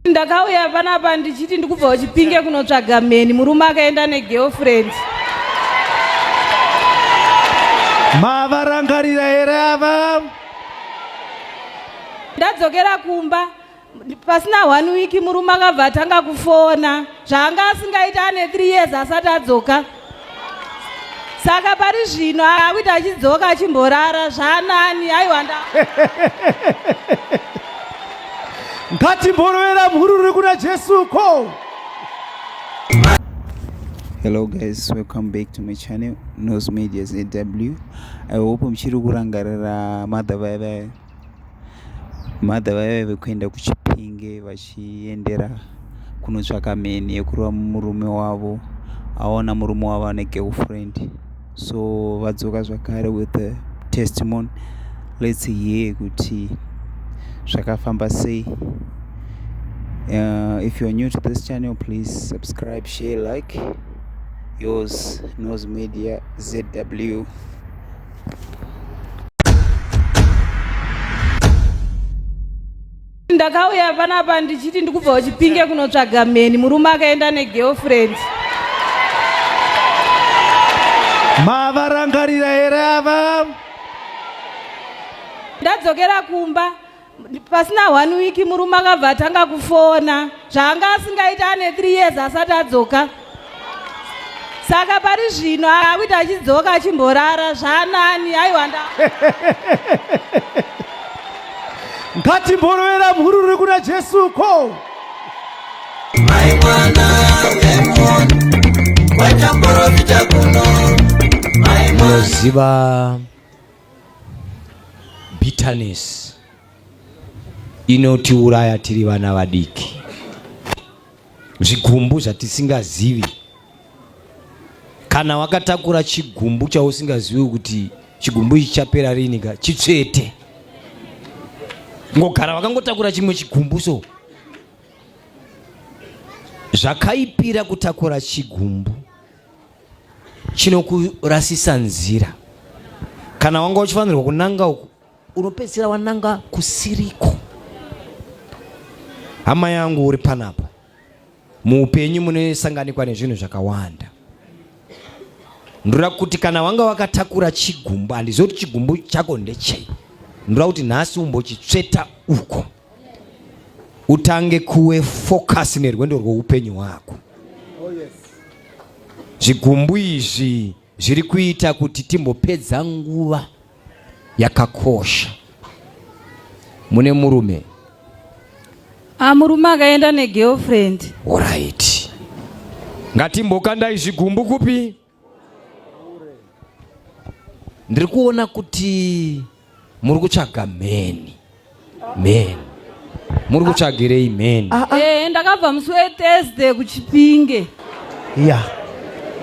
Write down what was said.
ndakauya panapa ndichiti ndikubva kuchipinge kunotsvaga mheni murume akaenda negirlfriend mavarangarira here ava ndadzokera kumba pasina one week murume akabva atanga kufona zvaanga asingaiti ane three years asati adzoka saka pari zvino akuti achidzoka achimborara zvanani aiwa nda ngatimborovera mhururi kuna jesu ko hello guys welcome back to my channel nos medias aw i hope muchiri kurangarira mother vaya vaya Mother vaive vekuenda kuChipinge vachiendera kunotsvaka mheni yekurova murume wavo aona murume wavo ane girlfriend so vadzoka zvakare with the testimony let's hear kuti zvakafamba sei uh, if you're new to this channel please subscribe share like yours nose media zw ndakauya panapa ndichiti ndikubva kuchipinge kunotsvaga mheni murume akaenda negirlfriend mavarangarira here ava ndadzokera kumba pasina one week murume akabva atanga kufona zvaanga asingaiti ane three years asati adzoka saka pari zvino akuti achidzoka achimborara zvanani aiwa nda ngatimborovera mhururi kuna jesu ko mai mwana wemon watamborofita kuno mai moziva Bitterness inotiuraya tiri vana vadiki, zvigumbu zvatisingazivi. Kana wakatakura chigumbu chausingazivi kuti chigumbu ichi chapera rini, ka chitsvete ngogara wakangotakura chimwe chigumbu so zvakaipira kutakura chigumbu chinokurasisa nzira kana wanga uchifanirwa kunanga uku unopedzisira wananga kusiriko hama yangu uri panapa muupenyu munosanganikwa nezvinhu zvakawanda ndoda kuti kana wanga wakatakura chigumbu handizivi kuti chigumbu chako ndechei ndoda kuti nhasi umbochitsveta uko utange kuwe focus nerwendo rwoupenyu hwako zvigumbu izvi zviri kuita kuti timbopedza nguva yakakosha mune murume ah, murume akaenda negirlfriend orit ngatimbokandai zvigumbu kupi ndiri kuona kuti muri kutsvaga mheni mheni muri kutsvagirei mheni ah, ah. Eh, ndakabva musi wethursday kuchipinge ya yeah.